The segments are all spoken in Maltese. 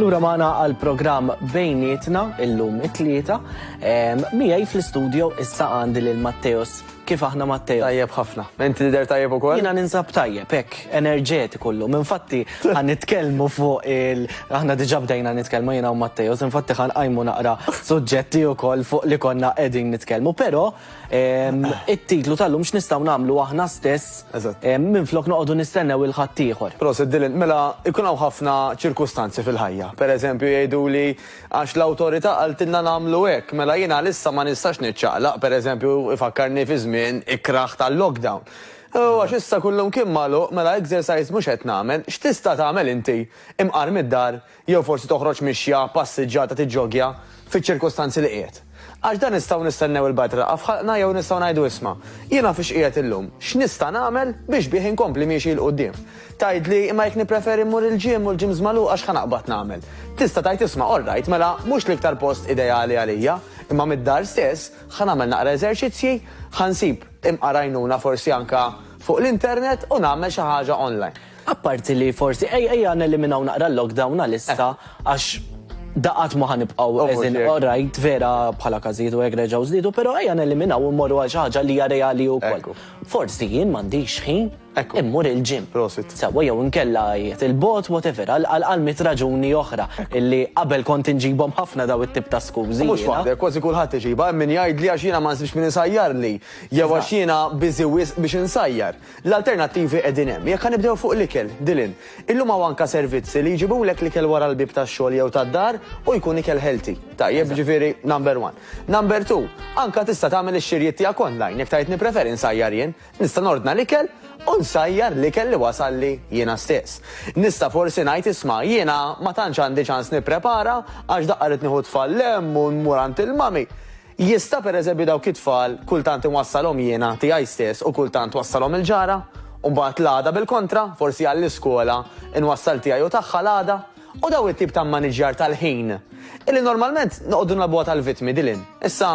Lura maħna għal program bejnietna illum it-tlieta. Mijaj fl-studio issa għandi lil Matteos. Kif aħna Matteos? Tajjeb ħafna. Inti lider tajjeb ukoll? Jina ninsab tajjeb, hekk, enerġeti kollu. Infatti għan nitkellmu fuq il aħna diġà bdejna nitkellmu jiena u Matteos, infatti għan għajmu naqra suġġetti wkoll fuq li konna qegħdin nitkellmu, però It-titlu tal-lum x'nistgħu nagħmlu aħna stess minflok noqogħdu nistennew il-ħaddieħor. Proset Dylan, mela jkun hawn ħafna ċirkustanzi fil-ħajja. Pereżempju jgħiduli għax l-awtorità qaltilna nagħmlu hekk, mela jien għalissa ma nistax niċċaqlaq, pereżempju ifakkarni fi żmien ikrah tal-lockdown. U għax issa kullum kien magħluq, mela exercise mhux qed nagħmel. X'tista' tagħmel inti, imqar mid-dar, Jew forsi toħroġ mixja, passiġġata, tiġġoggja, fiċ-ċirkustanzi li qiegħed. Għax dan nistgħu nistennew il-Bard tilqgħa f'ħalqna jew nistgħu ngħidu isma', jiena fiex qiegħed illum, x'nista' nagħmel biex bih inkompli miexi 'l quddiem. Tgħidli, imma jekk nippreferi mmur il-gym u l-gyms magħluqa x'ħa naqbad nagħmel? Tista' tgħid isma' alright mela mhux l-iktar post ideali għalija, imma mid-dar stess ħa nagħmel naqra eżerċizzji, ħa nsib imqar għajnuna forsi anke fuq l-internet u nagħmel xi ħaġa online. Apparti li forsi, ejja neliminaw naqra l-lockdown għalissa għax daqat ma ħanibqgħu eżin orajt vera bħala każijiet u hekk reġgħu żdiedu, però ejja neliminaw u mmorru għal xi ħaġa li hija reali wkoll. Forsi jien m'għandix ħin immur il-gym. Prosit. Sewwa jew inkella qiegħed il-bogħod whatever għal mitt raġuni oħra illi qabel kont inġibhom ħafna dawn it-tip ta' skużi. Mhux waħdek, kważi kulħadd iġibha, hemm min jgħidli għax jiena ma nsibx min isajjarli jew għax jiena busy wisq biex insajjar. L-alternattivi qegħdin hemm. Jekk ħa nibdew fuq l-ikel, Dylan, illum hawn anke servizzi li jġibulek l-ikel wara l-bieb tax-xogħol jew tad-dar u jkun ikel healthy. Tajjeb, jiġifieri, number one. Number two, anke tista' tagħmel ix-xirjiet tiegħek online, jekk tgħid nippreferi nsajjar jien. Nista' nordna l-ikel u nsajjar l-ikel li wasalli jiena stess. Nista' forsi ngħid isma' jiena ma tantx għandi ċans nipprepara għax daqqa rrid nieħu t-tfal 'l hemm u mmur għand il-mommy. Jista', pereżempju, dawk it-tfal kultant inwassalhom jiena, tiegħi stess, u kultant twassalhom il-ġara? U mbagħad l-għada bil-kontra, forsi għall-iskola, inwassal tiegħi u tagħha l-għada? U dawn it-tip ta' mmaniġġjar tal-ħin, illi normalment noqogħdu nilgħabuha tal-vittmi, Dylan. Issa,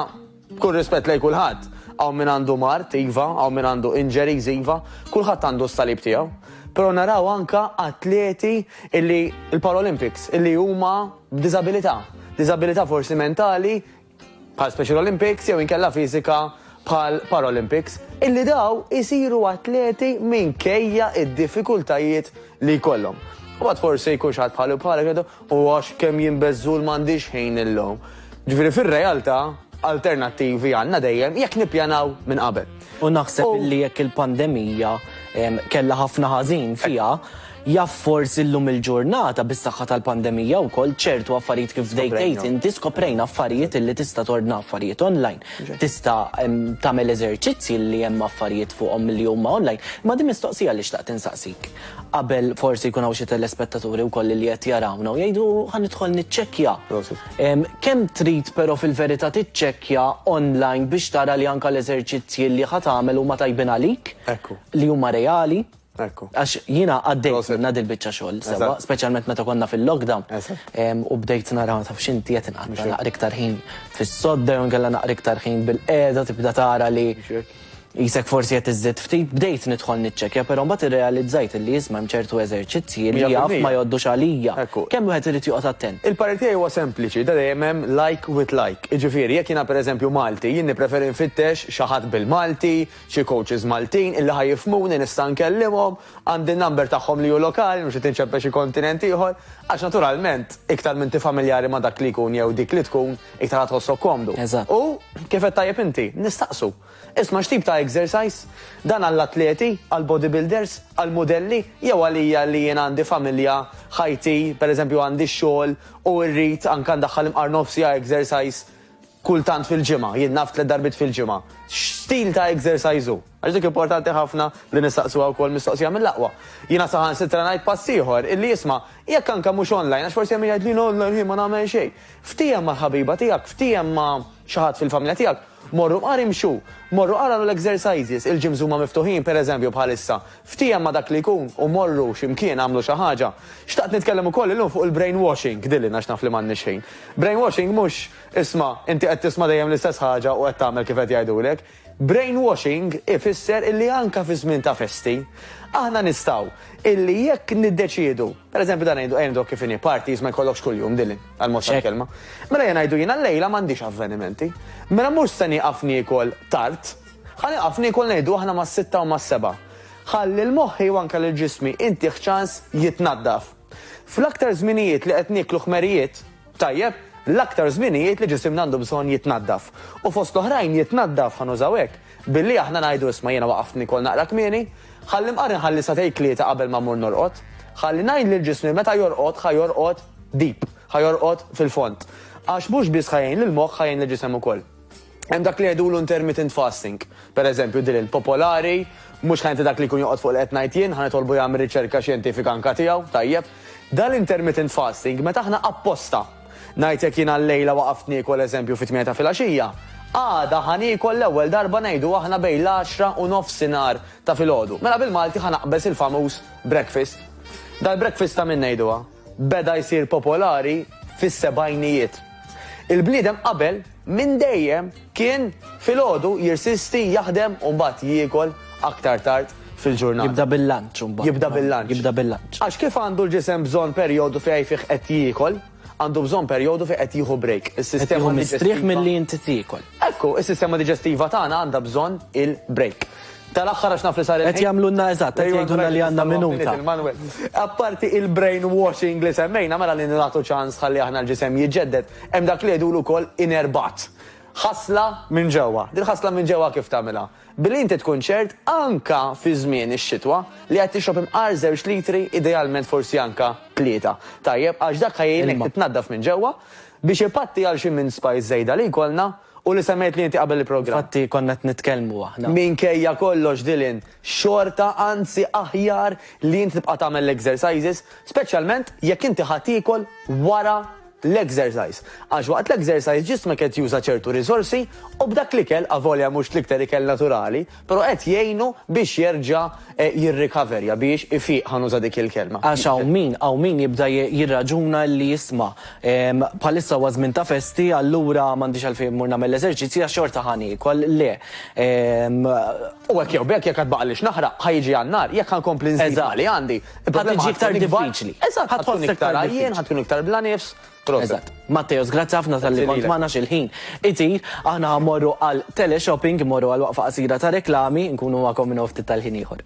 b'kull rispett lejn kulħadd, hawn min għandu mard, iva, hawn min għandu injuries, iva, kulħadd għandu s-salib tiegħu. Però naraw anke atleti illi, il-Paralympics, illi huma b'diżabilità. Diżabilità forsi mentali bħal Special Olympics jew inkella fiżika bħal Paralympics, illi daw isiru atleti minkejja id-diffikultajiet li jkollhom. U għad forsi jkun xaħat bħalu bħalek jgħidu, u għax kemm jimbezzul m'għandix ħin illum. Ġifieri fir-realtà alternattivi għandna dejjem jekk nippjanaw minn qabel. U naħseb li jekk il-pandemija kellha ħafna ħażin fiha, jaf forsi llum il-ġurnata bis-saħħa tal-pandemija wkoll ċertu affarijiet kif bdejt tgħid inti skoprejna affarijiet illi tista' tordna affarijiet online. Tista' tagħmel eżerċizzji li hemm affarijiet fuqhom li huma online. Imma din mistoqsija li xtaqt insaqsik. Qabel forsi jkun hawn xi telespettaturi wkoll li qed jarawna u jgħidu ħa nidħol niċċekkja. Kemm trid però fil-verità tiċċekkja online biex tara li anke l-eżerċizzji li ħa tagħmel huma tajbin għalik, li huma reali? Għax jiena għaddejt minnha dil-biċċa xogħol sewwa, speċjalment meta konna fil-lockdown u bdejt nara, taf x'inti, qed inqatta' naqra iktar ħin fis-sodda jew inkella naqra iktar ħin bilqiegħda tibda tara li. Qisek forsi qed iżżid ftit, bdejt nidħol niċċekkja però mbagħad irrealizzajt illi isma' hemm ċertu eżerċizzji li jaf ma jgħoddux għalija. Kemm wieħed irid joqgħod attent. Il-parir tiegħi huwa sempliċi, da dejjem hemm like with like. Jiġifieri, jekk jiena pereżempju Malti, jien nippreferi nfittex xi ħadd bil-Malti, xi coaches Maltin illi ħa jifhmuni nista' nkellimhom, Għandi n-number tagħhom li hu lokali, mhux qed inċempel xi kontinent ieħor, għax naturalment, iktar m'inti familjari ma' dak li jkun jew dik li tkun, iktar ħa tħossok komdu. U, kif għedt tajjeb inti, nistaqsu, Isma' x'tip ta' exercise? Dan għall-atleti, għall-bodybuilders, għall-mudelli, jew għalija li jien għandi familja, ħajti, pereżempju għandi x-xogħol u rrid anke ndaħħal imqar nofs siegħa exercise Kultant fil-ġimgħa, jien naf tliet darbiet fil-ġimgħa. X'stil ta' exercise hu? Għax dik importanti ħafna li nistaqsuha wkoll mistoqsija mill-aqwa. Jiena saħansitra ngħid pass ieħor, illi isma', jekk anke mhux online, għax forsi hemm min jgħid, jiena online ħin ma nagħmel xejn. Ftiehem mal-ħabiba tiegħek, ftiehem ma' xi ħadd fil-familja tiegħek, morru mar imxu, morru agħmlu l-exercises, il-gyms huma miftuħin, pereżempju bħal issa, ftiehem ma' dak li jkun u morru xi mkien agħmlu xi ħaġa. Xtaqt nitkellem ukoll illum fuq il-brainwashing, dili għax naf li m'għandniex ħin. Brainwashing mhux. Isma', inti qed tisma' dejjem l-istess ħaġa u qed tagħmel kif qed jgħidulek. Brainwashing ifisser illi anke fi żmien ta' festi, aħna nistgħu illi jekk niddeċiedu, per eżempju dan ngħidu, ejja ngħiduha kif inhi, parties ma jkollokx kuljum, Dylan, għal mod tal-kelma. Mela ejja ngħidu jiena llejla m'għandix avvenimenti. Mela mhux se nieqaf niekol tard. Ħa nieqaf niekol ngħidu aħna mas-sitta u mas-sebgħa. Ħa lil moħħi u anke lil ġismi intih ċans jitnaddaf. Fl-aktar żminijiet li qed nieklu ħmerijiet, Tajjeb, l-aktar żminijiet li ġisimna għandu bżonn jitnaddaf. U fost l-oħrajn jitnaddaf, ħa nużaw hekk, billi aħna ngħidu isma' jiena waqaft niekol naqra kmieni, ħalli nqarri nħalli sagħtej tlieta qabel ma mmur norqod. Ħalli ngħid lil ġismi meta jorqod ħa jorqod deep, ħa jorqod fil-fond. Għax mhux biss ħa jgħin lill-moħħ ħa jgħin lill-ġisem ukoll. Hemm dak li jgħidulu intermittent fasting. Per eżempju, din il popolari, mhux ħa inti dak li jkun joqgħod fuq li qed ngħid jien, ħa nitolbu jagħmel riċerka xjentifika anke tiegħu, tajjeb. Dan l-intermittent fasting meta aħna apposta, ngħid jekk jiena llejla waqaft niekol eżempju fit-tmienja ta' filgħaxija, għada ħa niekol l-ewwel darba ngħidu aħna bejn l-għaxra u nofsinhar ta' filgħodu. Mela bil-Malti ħa naqbeż il-famuż breakfast. Dal-breakfast ta' min ngħiduha? beda jsir popolari fis-sebgħinijiet. Il-bniedem qabel minn dejjem kien filgħodu jirsisti jaħdem u mbagħad jiekol aktar tard fil-ġurnata. Jibda bil-lunch imbagħad. Jibda bil-lunch. Jibda bil-lunch. Għax kif għandu l-ġisem bżonn perjodu fejn fih qed jiekol, għandu bżonn perjodu fejn qed jieħu break. Is-sistema mistrieħ milli inti tiekol. Ekku, is-sistema diġestiva tagħna għandha bżonn il-break. Tal-aħħar għax naf li sar il-ħin. Qed jagħmlulna eżatt, qed jgħidulna li għandna minuta. Apparti il-brainwashing li semmejna mela li nagħtu ċans ħalli aħna l-ġisem jiġġedded, hemm dak li jgħidulu wkoll inner bat. Ħasla minn ġewwa. Din ħasla minn ġewwa kif tagħmilha? Billi inti tkun ċert anka fi żmien ix-xitwa li qed tixrob imqar żewġ litri idealment forsi anka tlieta. Tajjeb, għax dak ħajjejnek titnaddaf minn ġewwa biex ipatti għal xi minn spice żejda li jkollna U li semmejtli inti qabel il-programm. Infatti konna qed nitkellmu aħna. Minkejja kollox Dylan, xorta anzi aħjar li inti tibqa' tagħmel l-exercises, speċjalment jekk inti ħa tiekol wara l-exercise. Għax waqt l-exercise ġismek qed juża ċertu riżorsi u b'dak l-ikel, avolja mhux l-iktar ikel naturali, Però qed jgħinu biex jerġa' jirrikaverja, biex ifiq, ħa nuża dik il-kelma. Għax hawn min, hawn min jibda jirraġuna li isma', bħalissa huwa żmien ta' festi, allura m'għandix għalfejn immur nagħmel l-eżerċizzji għax xorta ħa niekol. Le. U hekk jew b'hekk, jekk għad baqgħalli x'naħraq, ħa jiġi għan-nar, jekk ħa nkompli nżid ma' li għandi, il-problema ħa tkun ikbar. Eżatt. Ħa tkun iktar għajjien, ħa tkun iktar bla nifs. Eżatt. Matteos, grazzi ħafna tal-li kont magħna xil-ħin. Itir, aħna ħammorru għal teleshopping, morru għal waqfa qasira ta' reklami, nkunu magħkom minn ftit tal-ħin ieħor.